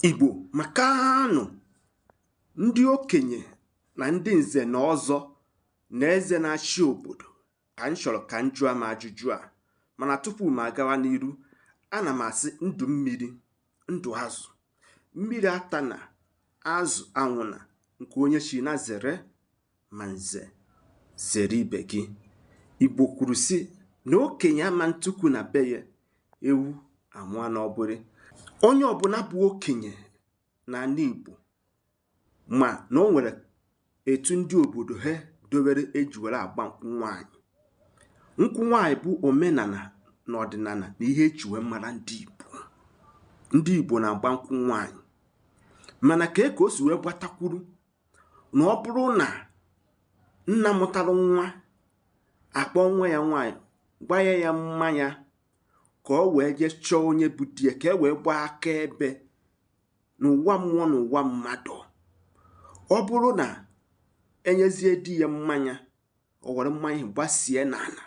Igbo maka na ọ ndị okenye na ndị nze na ọzọ na eze na-achị obodo ka m chọrọ ka m jụọ m ajụjụ a mana tupu m agawa n'iru ana m asị ndụ mmiri ndụ azụ mmiri atana azụ anwụna nke onye chi nya zere Ma nze zere ibe gị. Igbo kwuru sị na okenye ama ntukwu na be ya ewu amụọ n'ọgbụrị. Onye ọbụla bụ okenye n'ala Igbo ma na o nwere etu ndị obodo ha dowere eji were agba nkwụ nwaanyị. Nkwụ nwaanyị bụ omenala na ọdịnala na ihe eji wee mara ndị Igbo. Ndị Igbo na-agba nkwụ nwaanyị mana ka e ka o si wee gbata kwụrụ na ọ bụrụ na nna mụtara nwa akpọ nwa ya nwaanyị gbanye ya mmanya ka o wee jee chọọ onye bụ di ya ka e wee gbaa akaebe n'ụwa mmụọ na ụwa mmadụ ọ bụrụ na enyezie di ya mmanya o were mmanya gbasie n'ala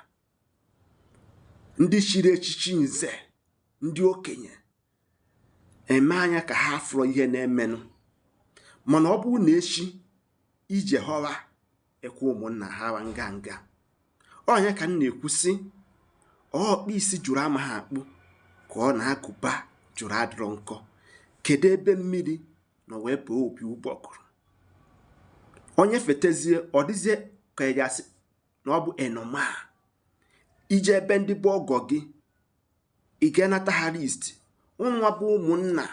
ndị chiri echichi nze ndị okenye eme anya ka ha afụrọ ihe na-emenụ mana ọ bụrụ na echi ije họwa ekwe ụmụnna ha wa nganga ọ nya ka m na-ekwu sị ọkpụ isi jụrụ amaha akpụ ka ọ na agụba jụrụ adịrọ nkọ kedu ebe mmiri nọ wee baa opi ụgbọgụrụ onye fetezie ọ dịzie ka ị ga-asị na ọ bụ ihe normal i je ebe ndị bụ ọgọ gị ị ga-anata ha list ụnụnwa bụ ụmụnna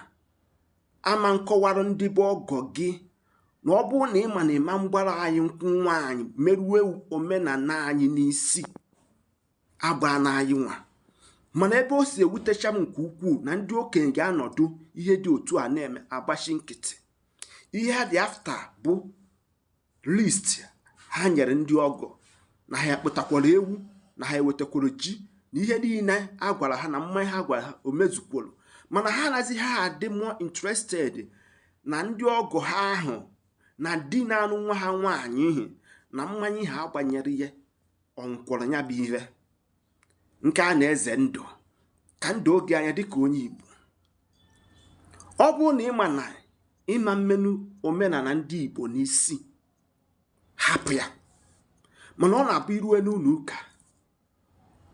ama nkọwara ndị bụ ọgọ gị na ọ bụrụ na ị ma na ị ma mgbara anyị nkwụ nwaanyị merue omenala anyị n'isi agbana anyị nwa mana ebe o si ewutecha m nke ukwuu na ndị okenye ga-anọdụ ihe dị otu a na-eme agbachi nkịtị ihe ha dị after bụ list ha nyere ndị ọgọ na ha akpụtakwara ewu na ha ewetakwara ji na ihe niile a gwara ha na mmanya ha gwara ha o mezukworo mana ha anazịha adị more interested na ndị ọgọ ha ahụ na di na-anụ nwa ha nwaanyị ihi na mmanya ha gbanyere ha ọ ṅụkwọrọ ya bụ ihe nke a na-eze ndụ ka m doo gị anya dịka onye Igbo ọ bụrụ na ị ma na ị ma mmeru omenala ndị Igbo n'isi hapụ ya mana ọ na-abụ i rue n'ụlọ ụka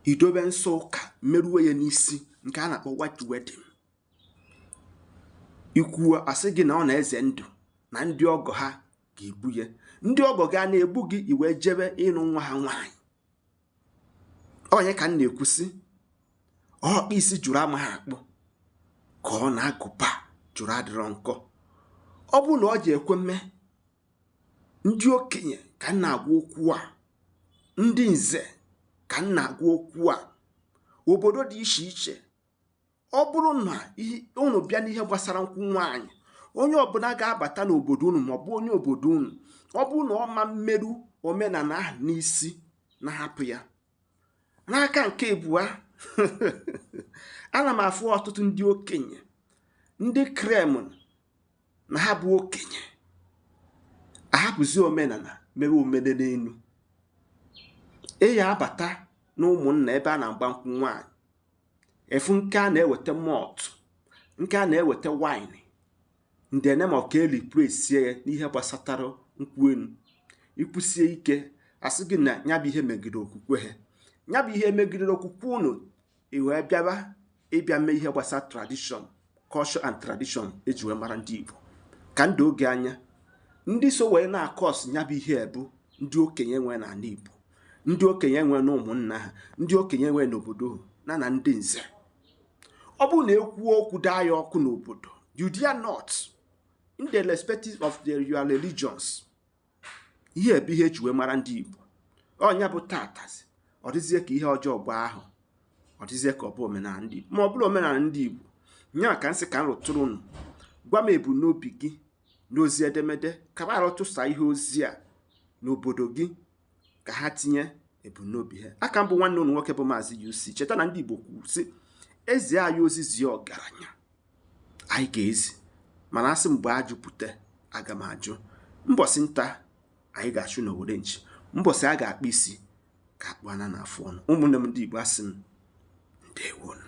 i dobe nsọ ụka merue ya n'isi nke a na-akpọ white wedding i kwuo asị gị na ọ na-eze ndụ na ndị ọgọ ha ga-egbu ya ndị ọgọ gị a na-egbu gị i wee jebe ịnụ nwa ha nwaanyị onye ka m na-ekwu sị ọkpa isi jụrụ amaghị akpụ ka ọ na agụba jụrụ adịrọ nkọ ọ bụ na ọ ji ekwe mme ndị okenye ka m na-agwa okwu a ndị nze ka m na-agwa okwu a obodo dị iche iche ọ bụrụ na unu bịa n'ihe gbasara nkwụ nwaanyị onye ọbụla ga-abata n'obodo unu maọbụ onye obodo unu ọ bụrụ na ọ ma meru omenala ahụ n'isi nya hapụ ya n'aka nke abụọ ana m afụ ọtụtụ ndị okenye ndị claim na ha bụ okenye ahapụzi omenala mere omenaenu ị ya-abata na ụmụnna ebe a na-agba nkwụ nwaanyị ị fụ nke a na-eweta malt nke a na-eweta wine ndị ene ma ka e replacie ya n'ihe gbasatara nkwụ enu i kwusie ike a sị gị na ya bụ ihe megidere okwukwe ha ya bụ ihe megidere okwukwe unu i wee bịaba ị bịa mee ihe gbasara tradishọn culture and tradition eji wee mara ndị Igbo ka m doo gị anya ndị so wee na-akọs ya bụ ihe bụ ndị okenye nwee n'ala Igbo ndị okenye nwee na ụmụnna ha ndị okenye nwee n'obodo na na ndị nze ọ bụrụ na e kwuo okwu daa ya ọkụ n'obodo you dare not in the respective of their your religions ihe bụ ihe eji wee mara ndị Igbo ọ nya bụ tatazi ọ dịzie ka ihe ọjọọ gwa ahụ ọ dịzie ka ọ bụ omenala ndị Igbo ma ọ bụrụ omenala ndị Igbo nya ka m sị ka m rụtụrụ unu gwa m ebumnobi gị n'ozi edemede ka m arụtụsa ihe ozi a n'obodo gị ka ha tinye ebumnobi ha aka m bụ nwanne unu nwoke bụ maazị UC cheta na ndị Igbo kwuru sị e zie anyị ozi zie ọgaranya anyị ga-ezi mana a sị m gbaa ajụ bute aga m ajụ mbọsị nta anyị ga-achụ n'owere nchi mbọsị a ga-akpa isi ka akpụ ana na afụ ọnụ ụmụnne m ndị Igbo asị m ndewo nụ